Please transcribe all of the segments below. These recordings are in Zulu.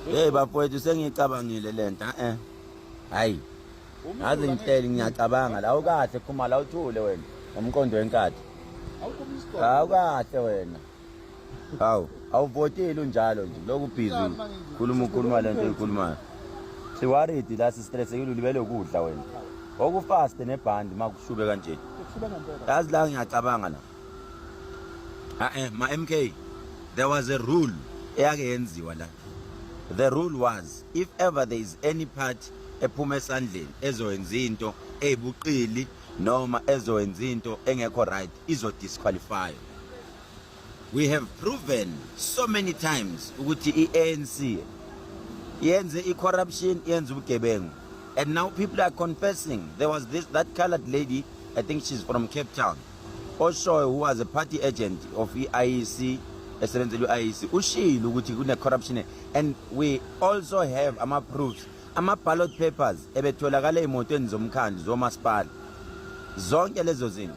Hey bafowethu sengicabangile lento eh. Hayi. Ngaze ngihleli ngiyacabanga la ukahle phuma la uthule wena ngomqondo wenkathi. Awukahle wena. Hawu, awuvotile unjalo nje. Lokhu busy. Khuluma ukhuluma lento oyikhulumayo. Si worried la si stress ekulu libele ukudla wena. Okufast nebhandi makushube kanje. Yazi la ngiyacabanga la. Ae ma MK there was a rule eyake yenziwa la. The rule was if ever there is any party ephuma esandleni ezoyenza into ezibuqili noma ezoyenza into engekho right izo disqualify we have proven so many times ukuthi iANC yenze icorruption yenza ubugebengu and now people are confessing there was this that colored lady i think she's from Cape Town oshoyo who was a party agent of i-IEC esebenzela i-IEC ushilo ukuthi kune-corruption and we also have ama-proofs ama-ballot papers ebetholakala ey'motweni zomkhandlu zomasipala zonke lezo zinto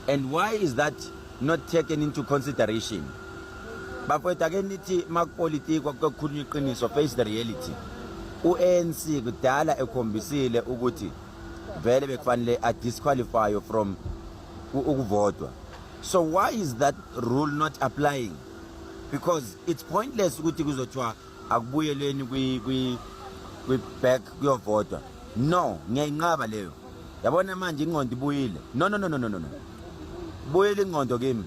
and why is that not taken into consideration bafowethu ake nithi makupolitiko kuyokhulunywa iqiniso face the reality u-anc kudala ekhombisile ukuthi vele bekufanele a disqualify from ukuvotwa so why is that rule not applying because it's pointless ukuthi kuzothiwa akubuyeleni kwi kwi kwi back kuyovotwa no ngiyayinqaba leyo yabona manje ingqondo ibuyile no no no no no no buyile ingqondo kimi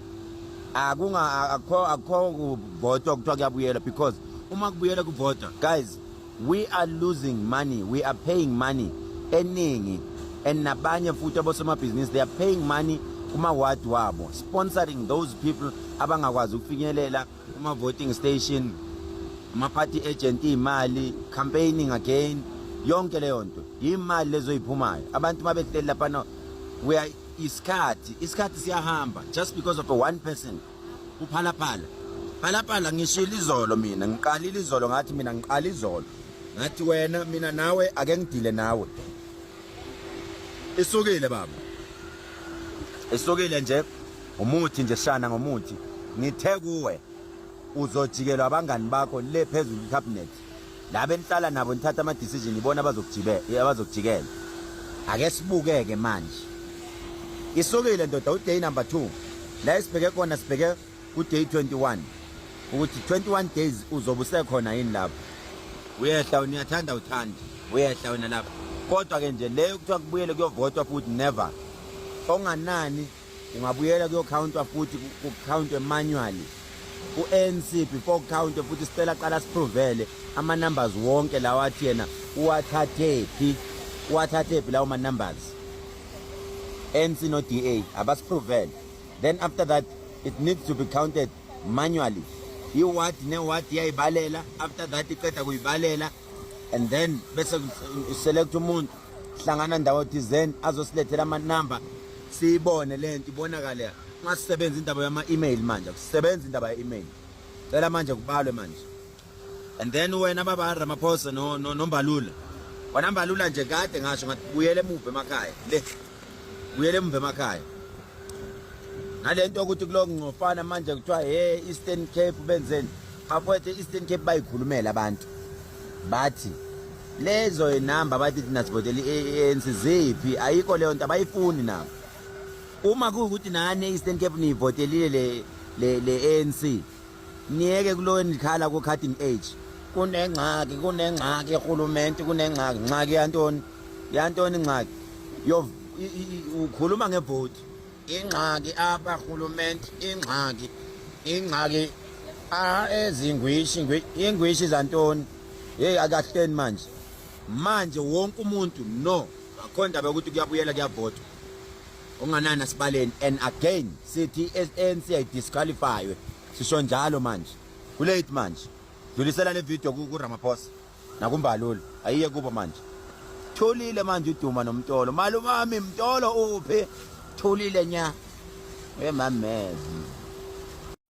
akunga akho akho kuvotwa kuthiwa kuyabuyela because uma kubuyela kuvotwa guys We are losing money, we are paying money eningi and nabanye futhi abosomabhizinisi they are paying money kuma-ward wabo sponsoring those people abangakwazi ukufinyelela kuma-voting station ama-party agent iy'mali campaigning again yonke leyo nto yimali lezoyiphumayo abantu uma behleli laphana we are isikhathi isikhathi siyahamba just because of a one person uphalaphala phalaphala ngishilo izolo mina ngiqalile izolo ngathi mina ngiqala izolo ngathi wena mina nawe ake ngidile nawe isukile baba isukile nje umuthi nje shana ngomuthi ngithe kuwe uzojikelwa abangani bakho le phezulu cabinet laba enihlala nabo nithatha ama decision ibona abazokujibela abazokujikela ake sibukeke manje isukile ndoda uday number 2 la esibheke khona sibheke ku day 21 ukuthi 21 days uzobe usekhona yini lapho uyehla wena uyathanda uthanda uyehla wena lapho kodwa ke nje leyo kuthiwa kubuyele kuyovotwa futhi never onganani ungabuyela kuyokhawuntwa futhi kukhawuntwe manually ku-anc before kukhawuntwe futhi sicela qala siphrovele ama-numbers wonke lawa athi yena uwathathephi uwathathephi lawo ma-numbers anc no-d a abasiphrovele then after that it needs to be counted manually iward neward iyayibalela after that iqeda kuyibalela and then bese select umuntu hlangana ndawo thizeni azosilethela amanumber siyibone le nto ibonakale ungasebenzi indaba yama-email manje kusebenza indaba ye-email cela manje kubalwe manje and then wena baba ramaphosa nombalula no, no wena mbalula nje kade ngasho ngathi buyele emuva emakhaya le buyele emva emakhaya nalento ukuthi kulo ngcofana manje kuthiwa he Eastern Cape benzeni bafowethu Eastern Cape bayikhulumela abantu bathi lezo inamba bathi thina sivotela i-ANC ziphi ayikho leyo nto abayifuni nabo uma kuwukuthi nani e-Eastern Cape niyivotelile le le le ANC niyeke kulowo nikhala ku cutting age kunengxaki kunengxaki ehulumenti kunengxaki ngxaki yantoni yantoni ingxaki yo ukhuluma ngebhodi ingxaki apha rhulumente ingxaki ingxaki a ezingwishi ingwishi zantoni yeyi akahleni manje manje wonke umuntu no akho ndaba yokuthi kuyabuyela kuyavotwa unganani asibaleni and again sithi i-anc ayidisqualifywe sisho njalo manje kulate manje dlulisela le video kuramaphosa nakumbalulu ayiye kubo manje thulile manje uduma nomtolo malumami mtolo uphi thulile nya uyemamezi